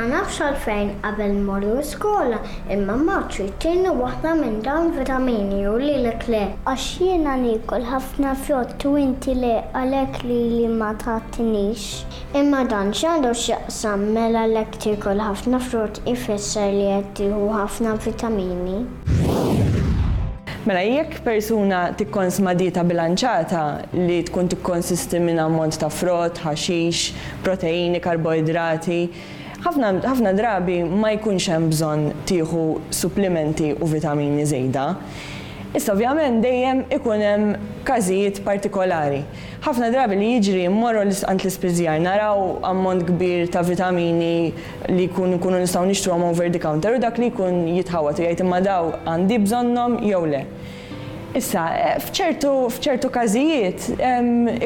Ma nafx għalfejn qabel immorru skola imma Marċu jtieni waħda minn dawn vitamini u lilek le. Għax jiena niekol ħafna frott u inti le għalek Lili ma tgħattinix. Imma dan x'għandu x'jaqsam? Mela l-hekk tiekol ħafna frott ifisser li qed tieħu ħafna vitamini? Mela jekk persuna tikkonsma dieta bilanċata li tkun tikkonsisti minn ammont ta' frott, ħaxix, proteini, karboidrati, ħafna ħafna drabi ma jkunx hemm bżonn tieħu supplimenti u vitamini żejda. Iżda ovvjament dejjem ikun hemm każijiet partikolari. Ħafna drabi li jiġri mmorru għand l-ispiżjar, naraw ammont kbir ta' vitamini li jkun nkunu nistgħu nixtruhom over the counter u dak li jkun jitħawwad u jgħid imma daw għandi bżonnhom jew le. Issa, f'ċertu f'ċertu każijiet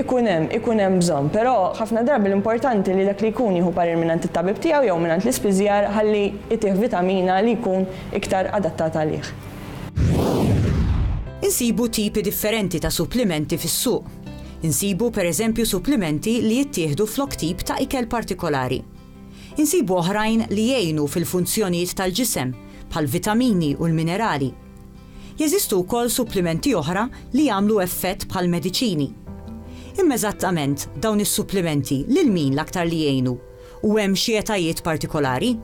ikun hemm ikun hemm bżonn, però ħafna drabi l-importanti li dak li jkun jieħu parir mingħand it-tabib tiegħu jew mingħand l-ispiżjar ħalli jtih vitamina li jkun iktar adattat għalih. Insibu tipi differenti ta' supplimenti fis-suq. Insibu, per eżempju, supplimenti li jittieħdu flok tip ta' ikel partikolari. Insibu oħrajn li jgħinu fil-funzjonijiet tal-ġisem, bħall-vitamini u l-minerali. Jeżistu wkoll supplimenti oħra li jagħmlu effett bħall-mediċini. Imma eżattament, dawn is-supplimenti lil min l-aktar li jgħinu? U hemm xi etajiet partikolari?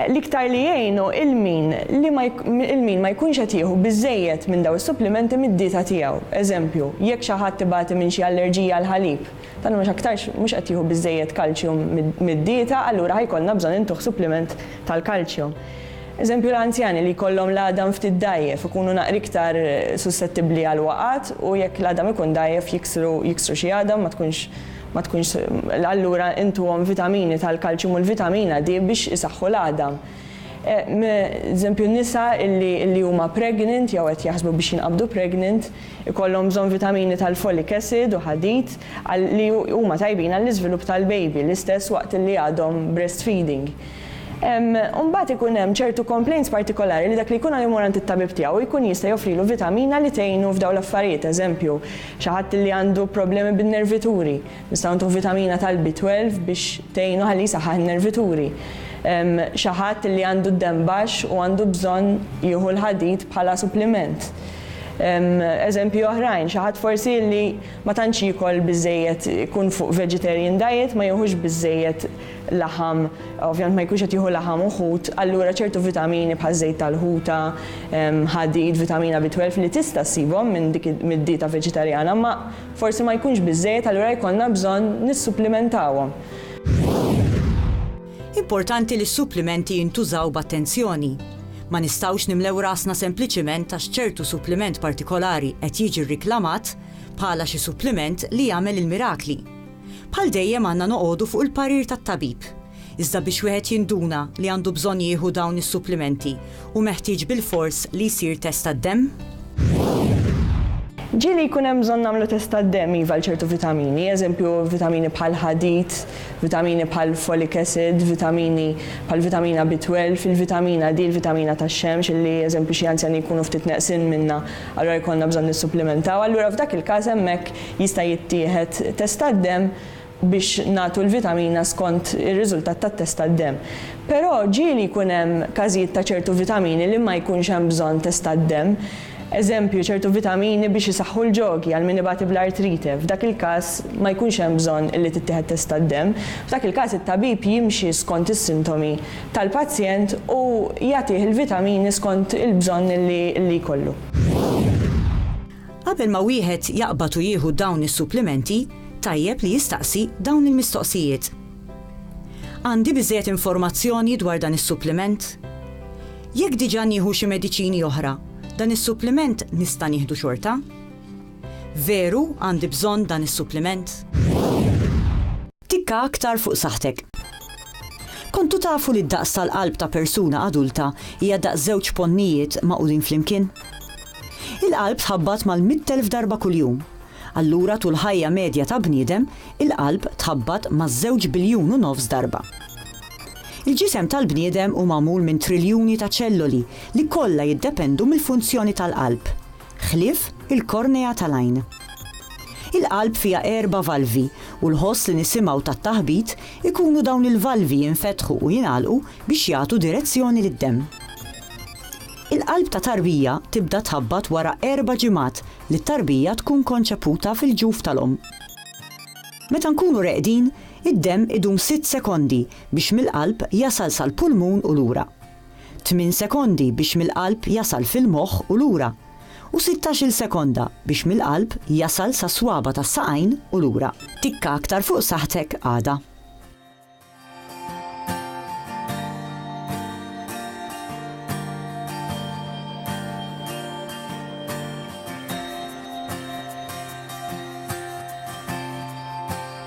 L-iktar li jgħinu il-min ma jkunx qed jieħu biżżejjed minn dawn is-supplimenti mid-dieta tiegħu. Eżempju, jekk xi ħadd ibati minn xi allerġija għall-ħalib, dan mhux aktarx mhux qed jieħu biżżejjed kalċjum mid-dieta, allura ħa jkollna bżonn intuh suppliment tal-kalċjum. Eżempju, l-anzjani li jkollhom l-għadam ftit dgħajjef ikunu naqra iktar sussettibbli għall-waqgħat u jekk l-għadam ikun dgħajjef jiksru xi għadam ma tkunx ma tkunx allura intuhom vitamini tal-kalċjum u l-vitamina D biex isaħħu l-għadam. Eżempju nisa illi illi huma pregnant jew qed jaħsbu biex jinqabdu pregnant ikollhom bżonn vitamini tal-folic acid u ħadid għal li huma tajbin għall-iżvilupp tal-baby l-istess waqt illi għadhom breastfeeding. U mbagħad ikun hemm ċertu complaints partikolari li dak li jkun għadu jmur għand it-tabib tiegħu jkun jista' joffrilu vitamina li tgħinu f'dawn l-affarijiet eżempju Xi ħadd li għandu problemi bin-nervituri, nistgħu ntuh vitamina tal-B12 biex tgħinu ħalli jsaħħaħ in-nervituri. Xi ħadd li għandu d-demm baxx u għandu bżonn jieħu l-ħadid bħala suppliment. Eżempji oħrajn, xi ħadd forsi li ma tantx jiekol biżżejjed, ikun fuq vegetarian diet, ma jieħux biżżejjed laħam, ovvjament ma jkunx qed jieħu laħam u ħut, allura ċertu vitamini bħaż-żejt tal-ħuta, ħadid, vitamina B12 li tista' ssibhom minn dik mid-dieta veġitarjana ma forsi ma jkunx biżżejjed allura jkollna bżonn nissupplimentawhom. Importanti li s-supplimenti jintużaw b'attenzjoni. Ma nistgħux nimlew rasna sempliċiment għax ċertu suppliment partikolari qed jiġi rriklamat bħala xi suppliment li jagħmel il-mirakli. Bħal dejjem għandna noqogħdu fuq il-parir tat-tabib. Iżda biex wieħed jinduna li għandu bżonn jieħu dawn is-supplimenti hu meħtieġ bilfors li jsir test tad-demm? Ġieli jkun hemm bżonn nagħmlu test tad-demm iva għal ċertu vitamini, eżempju vitamini bħall-ħadid, vitamini bħall-folic acid, vitamini bħall-vitamina B12, il-vitamina D, il-vitamina tax-xemx illi eżempju xi anzjani jkunu ftit neqsin minnha allura jkollna bżonn nissupplimentaw allura f'dak il-każ hemmhekk Jista' jittieħed test tad-demm biex nagħtu l-vitamina skont ir-riżultat tat-test tad-demm. Però ġieli jkun hemm każijiet ta' ċertu vitamini li ma jkunx hemm bżonn test tad-demm. Eżempju, ċertu vitamini biex isaħħu l-ġogi għal min ibati bl-artrite. F'dak il-każ ma jkunx hemm bżonn li tittieħed test tad-demm. F'dak il-każ it-tabib jimxi skont is-sintomi tal-pazjent u jagħtih il-vitamini skont il-bżonn li jkollu. Qabel ma wieħed jaqbad u jieħu dawn is-supplimenti, tajjeb li jistaqsi dawn il-mistoqsijiet, Għandi biżżejjed informazzjoni dwar dan is-suppliment? Jekk diġà nieħu xi mediċini oħra, dan is-suppliment nista' nieħdu xorta? Veru għandi bżonn dan is-suppliment? Tikka aktar fuq saħħtek. Kontu tafu li d-daqs tal-qalb ta' persuna adulta hija daqs żewġ ponnijiet magħqudin flimkien? Il-qalb tħabbat mal-mitt elf darba kuljum. Allura tul ħajja medja ta' bniedem, il-qalb tħabbat ma' żewġ biljun u nofs darba. Il-ġisem tal-bniedem hu magħmul minn triljuni ta' ċelloli li kollha jiddependu mill-funzjoni tal-qalb. ħlief il-kornea tal-għajn. Il-qalb fiha erba' valvi u l-ħoss li nisimgħu tat-taħbit ikunu dawn il-valvi jinfetħu u jingħalqu biex jagħtu direzzjoni lid-demm. Il-qalb ta' tarbija tibda tħabbat wara erba' ġimgħat li t-tarbija tkun konċeputa fil-ġuf tal-omm. Meta nkunu reqdin, id-demm idum sitt sekondi biex mill-qalb jasal sal-pulmun u lura. tmien sekondi biex mill-qalb jasal fil-moħħ u lura, u sittax-il sekonda biex mill-qalb jasal sas-swaba' tas-saqajn u lura. Tikka aktar fuq saħħtek għada.